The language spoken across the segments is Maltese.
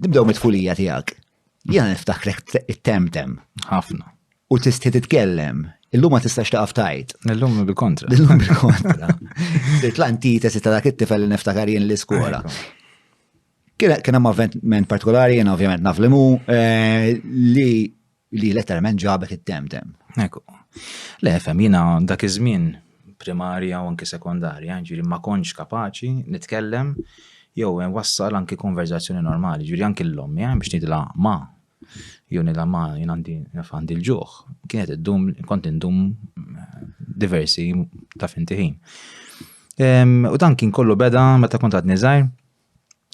Nibdew mit-tfulija tiegħek. Jiena niftakrek it-temtem. Ħafna. U tisti titkellem. Illum ma tistax taqaf tajt. Illum bil-kontra. Illum bil-kontra. Sirt l-antitesi ta' dak it-tifel li niftakar jien l-iskola. Kien hemm avventment partikolari, jien ovvjament naf li mu, eh, li li letteralment ġabet it-temtem. Ekku. Le, fem, jina dak iż-żmien primarja u anki sekondarja, ġiri ma konċ kapaċi nitkellem jew wassal anki konverzazzjoni normali, ġiri anki l-lom, eh, biex nidla ma, jew nidla ma jina għandi l-ġuħ, kienet id-dum, kont indum eh, diversi ta' fintiħin. U dan kien kollu beda meta kont għadni zaħir,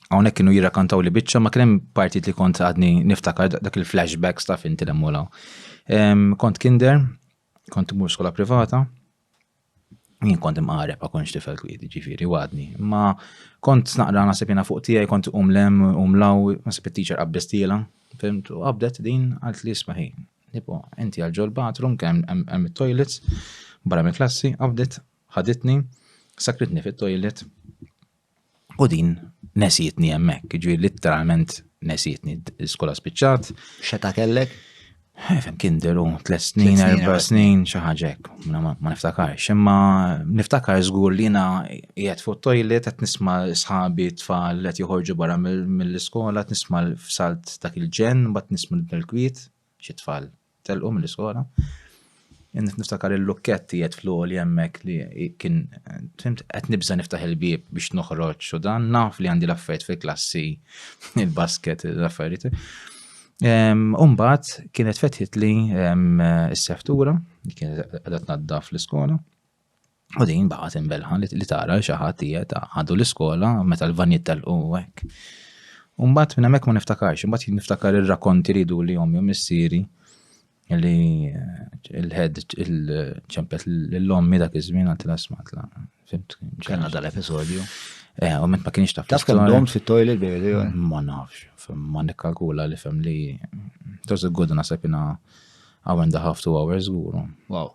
Hawnhekk kienu jirrakantaw li biċċa ma kien hemm partit li kont għadni niftakar dak il-flashbacks ta' finti l mulaw. Kont kinder, kont mur skola privata, jien kont imqareb ma konx tifel kwiet, ġifiri, għadni. Ma kont naqra nasib jena fuq tijaj, kont umlem, umlaw, nasib il-teacher qabbis tila, fimt, u qabdet din għalt li smaħi. Nipo, inti għalġol bathroom, kem għem toilets, barra minn klassi, qabdet, ħaditni, sakritni fit-toilet, U din nesietni hemmhekk, ġifieri litteralment nesietni l-iskola spiċċat. Xeta kellek? Eh, fem kien deru tliet snin, erba' snin, xi ħaġa hekk, ma niftakarx. Imma niftakar żgur li jiena qiegħed fuq toilet qed nisma' sħabi tfal qed joħorġu barra mill-iskola, qed nisma' l-salt dak il-ġen, mbagħad nisma' l-kwiet xi tfal telqu mill-iskola. Niftakar il-lukketti jgħed fl-għoli jemmek li kien, fimt, għet nibza niftaħ il-bib biex noħroġ u dan naf li għandi l-affarijiet fil-klassi, il-basket, l-affarijiet. Umbat kienet fetħit li s-seftura, kienet għadat naddaf l-iskola. U din baqgħet imbelħa li tara xi ħadd qiegħed għadu l-iskola meta l-vanjiet telqu hekk. U mbagħad minn hemmhekk ma niftakarx, mbagħad niftakar ir-rakonti li jdu li ommi u missieri li eh, il-ħed il-ċempet l-ommi dak iż-żmien għal tlasmatla. Fimt? Kellna dal-episodju. Eh, u ment ma kienx taf. Taf kemm dom fit-toilet bejli. Ma nafx, ma nikkalkula li fem li. Toż il-gudna sepina għawen daħaftu għawers għuru. Wow.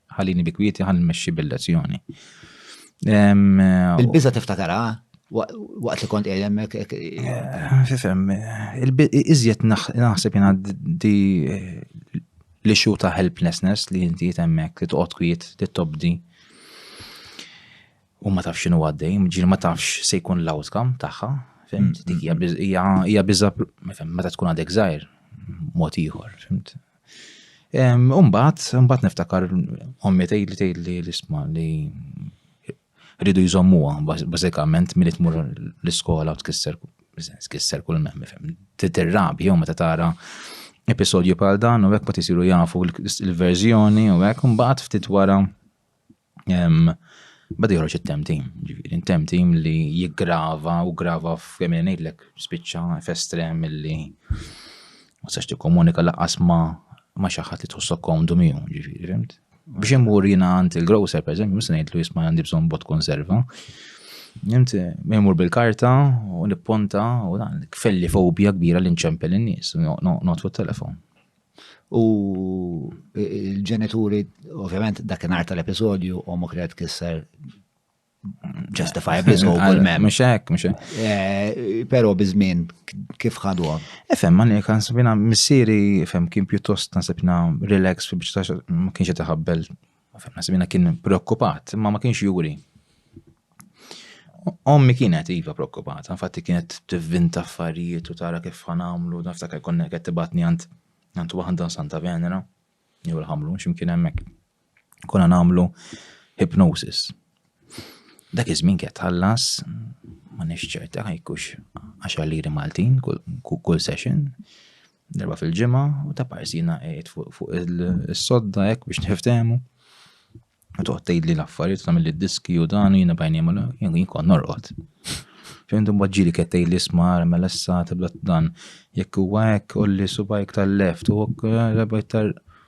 Ħallini bi kwieti ħalli nmexxi bil-lezzjoni. Il-biża tiftakara? waqt li kont qed hemmhekk. Eh, fifhem, iżjed naħseb jena di eh, li xu ta' helplessness li inti hemmhekk li toqgħod kwiet li tobdi. U ma tafx x'inhu għaddej, ġieli ma tafx se jkun l-outcome tagħha, fimt? Mm, mm, mm. Hija biża meta tkun għadek żgħir mod ieħor, fimt? Umbat, umbat niftakar ommi tgħid li tgħid li l-isma li rridu jżommuha bażikament milli tmur l-iskola u tkisser tkisser kull mem fem. Titirrabi jew meta tara episodju bħal dan u hekk ma tisiru jafu l-verżjoni u hekk imbagħad ftit wara Bada joħroġ it-tem tim, ġifieri tem tim li jiggrava u grava f'kemm ngħidlek spiċċa f'estrem li ma sax tikkomunika laqqas ma ma xi ħadd li tħossok komdu miegħu, ġifieri fimt. Biex immur jiena għand il-grocer pereżempju, mhux se ngħidlu jisma' għandi bżonn bot konserva. Inti immur bil-karta u nipponta u dan kfelli fobja kbira li nċempel in-nies, noqgħod fuq telefon. U l-ġenituri, ovvjament, dakinhar tal-episodju, omok li qed kisser justifiably so għal mem. Mux hekk, mux hekk. Eh, Pero bizmin, kif ħadu għam? Efem, man jek għansibina, missiri, efem, kien pjuttost għansibina relax fi biex ma kienx jtaħabbel Għafna semina kien preokkupat, imma ma kienx juri. Ommi kienet iva preokkupata, infatti kienet tivvinta affarijiet u tara kif ħanamlu, naftakar konna qed tibatni għand għand waħda Santa Venera, jew l-ħamlu x'imkien hemmhekk. Konna nagħmlu hypnosis, Dak iż-żmien kien tħallas ma nix ċerta ħajkux 10 liri Maltin kull session darba fil-ġimgħa u ta' parsina qed fuq is-sodda hekk biex niftehmu. U toqgħod tgħidli l-affarijiet tagħmel id-diski u dan jiena bajni ma jien kont norqod. Fejn dum ġili qed tgħidli smar mela issa tibda dan jekk huwa hekk olli subajk tal-left u rebajt tal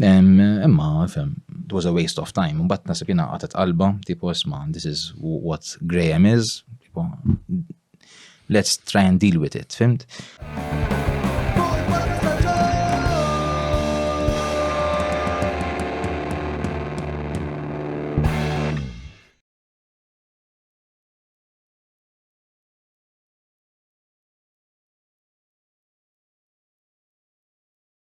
Imma, fem, it was a waste of time. Mbatt nasib jina għatet qalba, tipo, isma, this is what Graham is, tipo, let's try and deal with it, fimt?